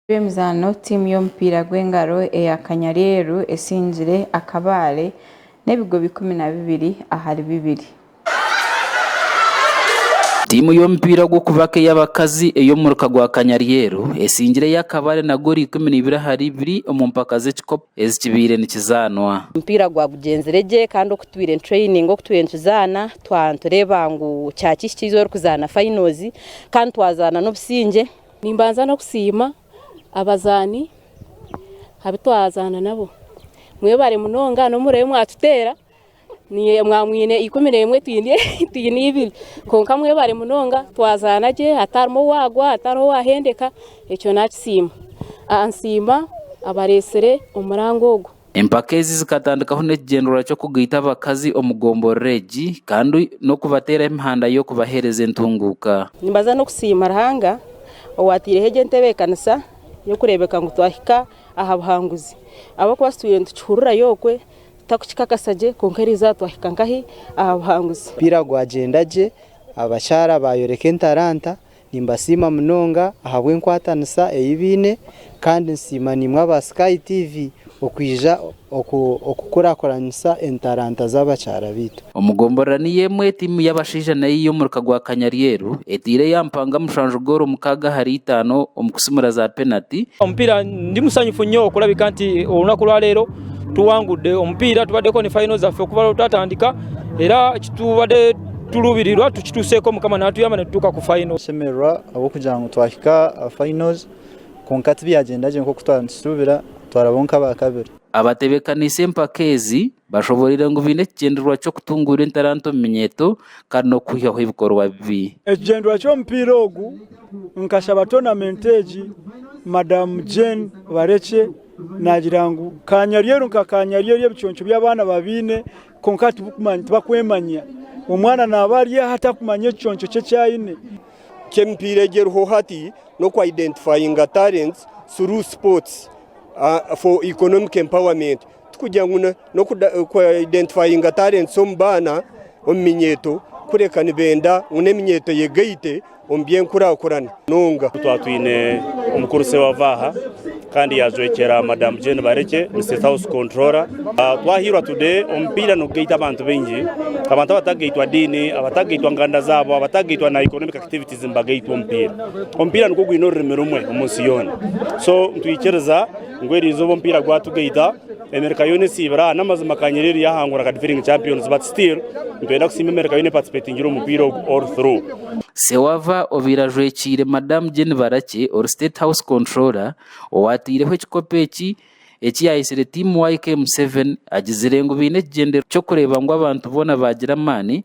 Eby'emizaano, Tiimu y'omupiira gw'engaro eya Kanyareeru esingire akabaare n'ebigobo ikumi na bibiri ahari bibiri. Tiimu y'omupiira gw'okubaka ey'abakazi ey'omuruka gwa Kanyareeru esingire ey'akabaare na goolo ikumi na ibiri ahari ibiri omu mpaka z'ekikopo ezikibaire nikizaanwa. Omupiira gwagugyenzire gye kandi oku tubaire nituraininga oku tubaire nikizaana twatureeba ngu kyaki ekiija orikuzaana fainoozi kandi twazaana n'obusingye Nimbanza n'okusiima abazaani abu twazaana nabo. Mwebare munonga n'omuriro ei mwatuteera. Mwaba mwine ikumi n'emwe twine ibiri. Kwonka mwebare munonga twazaana gye hatarimu owaagwa hatariho owaahendeka, ekyo naakisiima. Nsiima abareetsire omurango ogwo. Empaka ezi zikatandikaho n'ekigyendererwa ky'okugaita abakazi omu gomborora egi kandi n'okubateeraho emihanda y'okubaheereza entunguuka. Nimbaza n'okusiima Ruhanga owaataireho egi entebeekanisa y'okureebeka ngu twahika aha buhanguzi ahabw'okuba titwire nitukihurira y'okwe tutakukikakasa gye kwonka eriizooba twahika nkahi aha buhanguzi. Omupiira gwagyenda gye, abashaara baayoreka entaranta, Nimbasiima munonga ahabw'enkwatanisa ei baine kandi nsiima naimwe aba Sky TV okwija okukurakuranisa entaranta z'abakyara baitu. Omu gomborora niyo emwe tiimu y'abashaija nayo ei omuruka gwa Kanyaryeru etaire ya mpanga mushanju goolo mukaaga ahari itaano omu kusimura za penati. Omupiira ndi musanyufu nyo kurabika nti orunaku orwaleero tuwangudde omupiira tubadde koni fayino zaffe okuva orutwatandika era ekitubadde. Turuubirirwa tukituuse ku Mukama naatuyamba nitutuuka ku fayino. Tushemererwa ahabw'okugira ngu twahika aha fayino kwonka tibyagyenda gye nk'oku twaba nitushuubira, twarabaho nk'abaakabiri. Abatebeekaniise empaka ezi bashoboreire ngu baine ekigyendererwa ky'okutunguura entaranta omu minyeeto kandi n'okuhwihaho ebikorwa bibi. Ekigyendererwa ky'omupiira ogu nkashaba toonamenti egi Madamu Jane Barekye naagira ngu kaanyaryeru nka kaanyaryeru ebiconco by'abaana babiine Kwonka tibakwemanya. Omwana naaba ari aha atakumanya ekiconco kye eki aine. Ky'emipiira egi eriho hati n'okwa identifyinga talents through sports for economic empowerment. Tikugira ngu n'okwa identifyinga talents omu baana omu minyeeto kureka nibenda ngu n'eminyeeto eyegaite omu by'enkurakurana nunga. Twaba twine omukurusi owava aha kandi yajwekyera Madam Jane Barekye, ni State House Controller. Twahairwa tude omupiira nigugaita abantu baingi, abantu abatagaitwa diini, abatagaitwa nganda zabo, abatagaitwa na economic activities nibagaitwa omupiira. Omupiira nigwo gwine orurimi rumwe omu nsi yoona. So nitwikiriza ngu erizooba omupiira gwatugaita. Emerika yoona esiibire aha n'amazima ka Nyerere yaahangura aka defending champions but still nitwenda kusiima Emerika yoona eparticipatingire omu mupiira ogu all through. Sewava obaire ajwekiire Madam Jane Barakye ori State House Controller owaataireho ekikopo eki eki yaayetsire Team YKM Seven agizire ngu baine ekigyendererwa ky'okureeba ngu abantu boona baagira amaani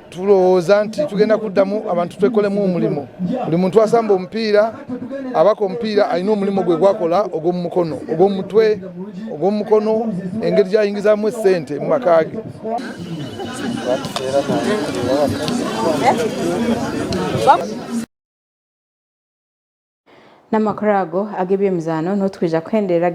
Turowoza nti tugenda kudamu abantu twekoremu omurimo. Buri muntu asamba omupiira, abaka omupiira ayine omurimo gwe gwakora ogw'omu mukono, ogw'omu mutwe, ogw'omu mukono engeri ezi ayingizamu esente omu makage. N'amakuru ago ag'eby'emizaano nuho turikwija kuhenderera.